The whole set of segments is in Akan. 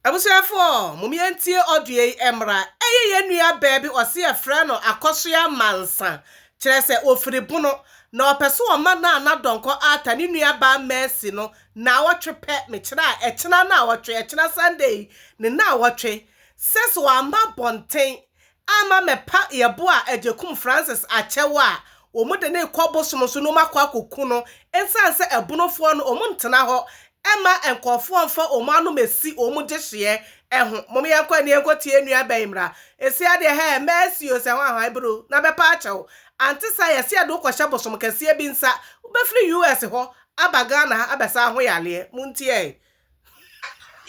Abusuafoɔ, mom yɛntie audio yi mmra. Ɛyɛ yɛn nua baa bi ɔse yɛfrɛ no Akɔsoa Mansa, kyerɛ sɛ ɔfiri Bono, na ɔpɛ sɛ ɔma Nana Donkor Arthur ne nua baa Mercy no naawɔtwe pɛ, mekyerɛ a ɛkyena naawɔtwe, ɛkyena Sunday yi ne naawɔtwe, sɛ sɛ wamma abɔnten Ama mɛpa yɛbo a Agyekum Francis akyɛ wo a wɔn de no rekɔ bosom so na wɔn akɔ akɔ ku no ɛnsan sɛ ɛbonofoɔ no wɔn ntena hɔ ɛma nkɔɔfoɔ nfa wɔn anom ɛsi wɔn gyehyeɛ ɛho mom yɛnkɔ ɛne yɛnkɔ tie nua bɛn mmra ɛsi adeɛ hɛɛ mɛɛsi o sɛ ho ahwan bro na bɛpa akyɛ wo ante saa yɛse yɛde wo kɔhyɛ bosom kɛseɛ bi nsa wobɛfiri US hɔ aba Ghana ha abɛsa ho yaleɛ montiɛɛ.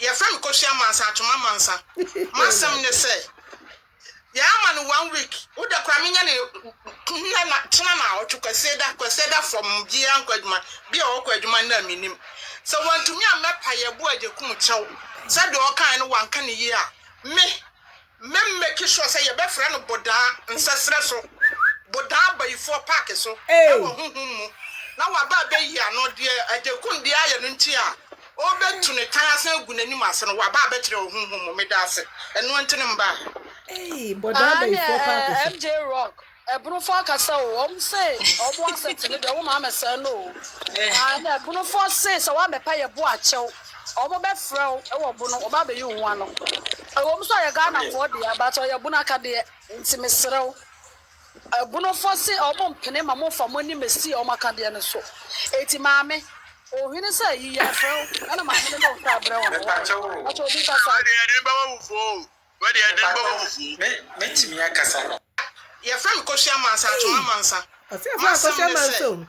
Yɛfrɛ me Kofi Amansa Atwom Amansa. M'asɛm ne sɛ, yɛama no one week. Wo dɛ koraa menya no nnɛ na kyena na awɔtwe, Kwasiada, Kwasiada fam biaa nkɔ adwuma, bi a ɔkɔ adwuma nnɛ a mennim. Sɛ wantumi a mɛpae abu Agyekum kyɛw sɛ deɛ ɔkaeɛ no wanka no yie a, me. Me make sure sɛ yɛbɛfrɛ no Bodaa nsɛserɛ so, Bodaa abayifoɔ park so wɔ honhom mu, na waba abɛyi ano, deɛ Agyekum deɛ ayɛ no nti a ɔrebɛtu ne tan asan agu n'anim ase no, waba abɛkyerɛ wɔ honhom mu, meda ase, ɛnoa nti ne mbaa. Ei, Bodaa abayifoɔ park so. Aane ɛɛ MJ Rock. Ebunofo akasa o, wɔn se wɔn asɛte no deɛ wɔn maa mɛsɛɛ no o. Na ɛna Ebunofo se sɛ wɔabɛpa yɛ bo akyɛw, wɔn bɛfrɛ wo ɛwɔ bo no, wɔba abɛyi wo ho ano. Ɛwɔ mu sɛ ɔyɛ Ghana foɔ deɛ, but ɔyɛ Ebunu akadeɛ, nti mesrɛ wo. Ebunofo se wɔn mpene ma mo nfa mo anim esi wɔn akadeɛ no so. Enti maame, Ohene sɛ ayi, yɛrefrɛ wo, ɛna maame no de wo nsa abrɛ wɔn. Mepakyɛw o, Mpakyɛw obi kasa. Saa deɛ yɛde bɛma awufoɔ o. Wɔ deɛ ɛden bɔ mo fufuo. Mɛ tumi akasa. Yɛfrɛ me Kofi Amansa Atwom Amansa. Ɔse yɛfrɛ no Akɔsoɛ Amansa o.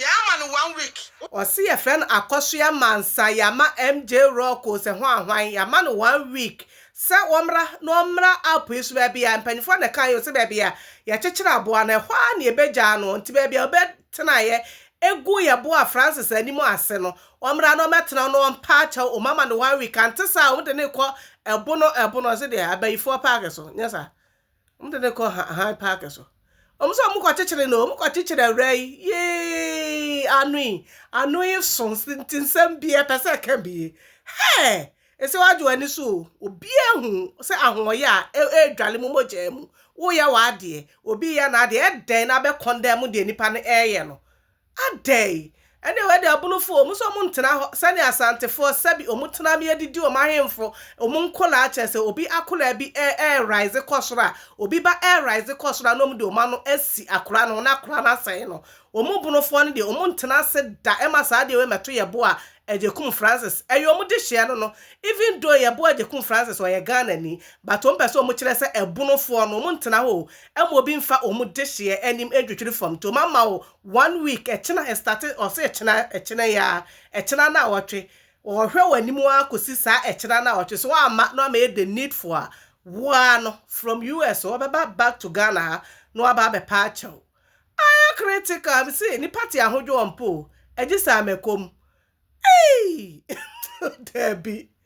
Yɛ ama no one week. Ɔse yɛfrɛ no Akɔsoɛ Amansa yɛ ama MJ Rock o sɛ hwan hwan yɛ ama no one week sɛ wɔmmra na wɔmmra app yi so baabi a mpanyinfoɔ na ɛkaeɛ o sɛ baabi a yɛkyekyere aboa no ɛhɔ ara na yɛbɛgyaa no nti baabi a ɔbɛtenaeɛ gu yɛboa Francis anim ase no Ɔmmra na ɔmmɛtena na ɔmpa akyɛw o mama no one week ante saa a wɔde no rekɔ ɛbono ɛbono ɔse deɛ abayifoɔ paake so nyɛ saa wɔde no rekɔ han paake so wɔn sɛ wɔn kɔkyekyere no wɔn kɔkyekyere awura yi yee ano yi ano yi so nti nsɛm bi ɛpɛ sɛ ɛka bi hɛɛ ɛsɛ wadwo ani so o obiara hu sɛ ahoɔyɛ a ɛredwale mu mogyaa mu woyɛ w'adeɛ obi yɛ n'adeɛ ɛdɛn na abɛkɔn dɛm deɛ nipa no ɛreyɛ no Adɛn? Ɛnneɛ wei deɛ abunufo o, wɔn nso wɔn ntena hɔ sɛdeɛ asantefoɔ sɛbi wɔn tena bea de di wɔn ahemfo, wɔn nkwadaa kyerɛ sɛ obi akwadaa bi ɛ ɛ rise kɔ soro a, obi ba ɛ rise kɔ soro a na wɔn de wɔn ano asi akwadaa no ho na akwadaa no asɛe no. Wɔn bunufoɔ no deɛ wɔn ntena ase da ɛma saa adeɛ wei mmɛto Yeboah Agyekum Francis. Ɛyɛ wɔn dehyeɛ no no, even though Yeboah Agyekum Francis ɔyɛ Ghanani but wɔn pɛ sɛ wɔn kyerɛ sɛ abunufoɔ no wɔn ntena hɔ o, Ɛma obi nfa wɔn dehyeɛ anim ntwitwiri fam nti wɔn ama wo one week ɛkyena ɛstate ɔse ɛkyena ɛkyena yi ara ɛkyena naawɔtwe wɔhwɛ wo anim ara kɔsi saa ɛkyena naawɔtwe so amma na wama yɛ the needful a wo ara no from US wɔbɛba back to Ghana ha na waba abɛpa akyɛ wo ayɛ critical me se nipa te ahodwoɔ mpo o ɛgye saa mɛkɔ mu eii daabi.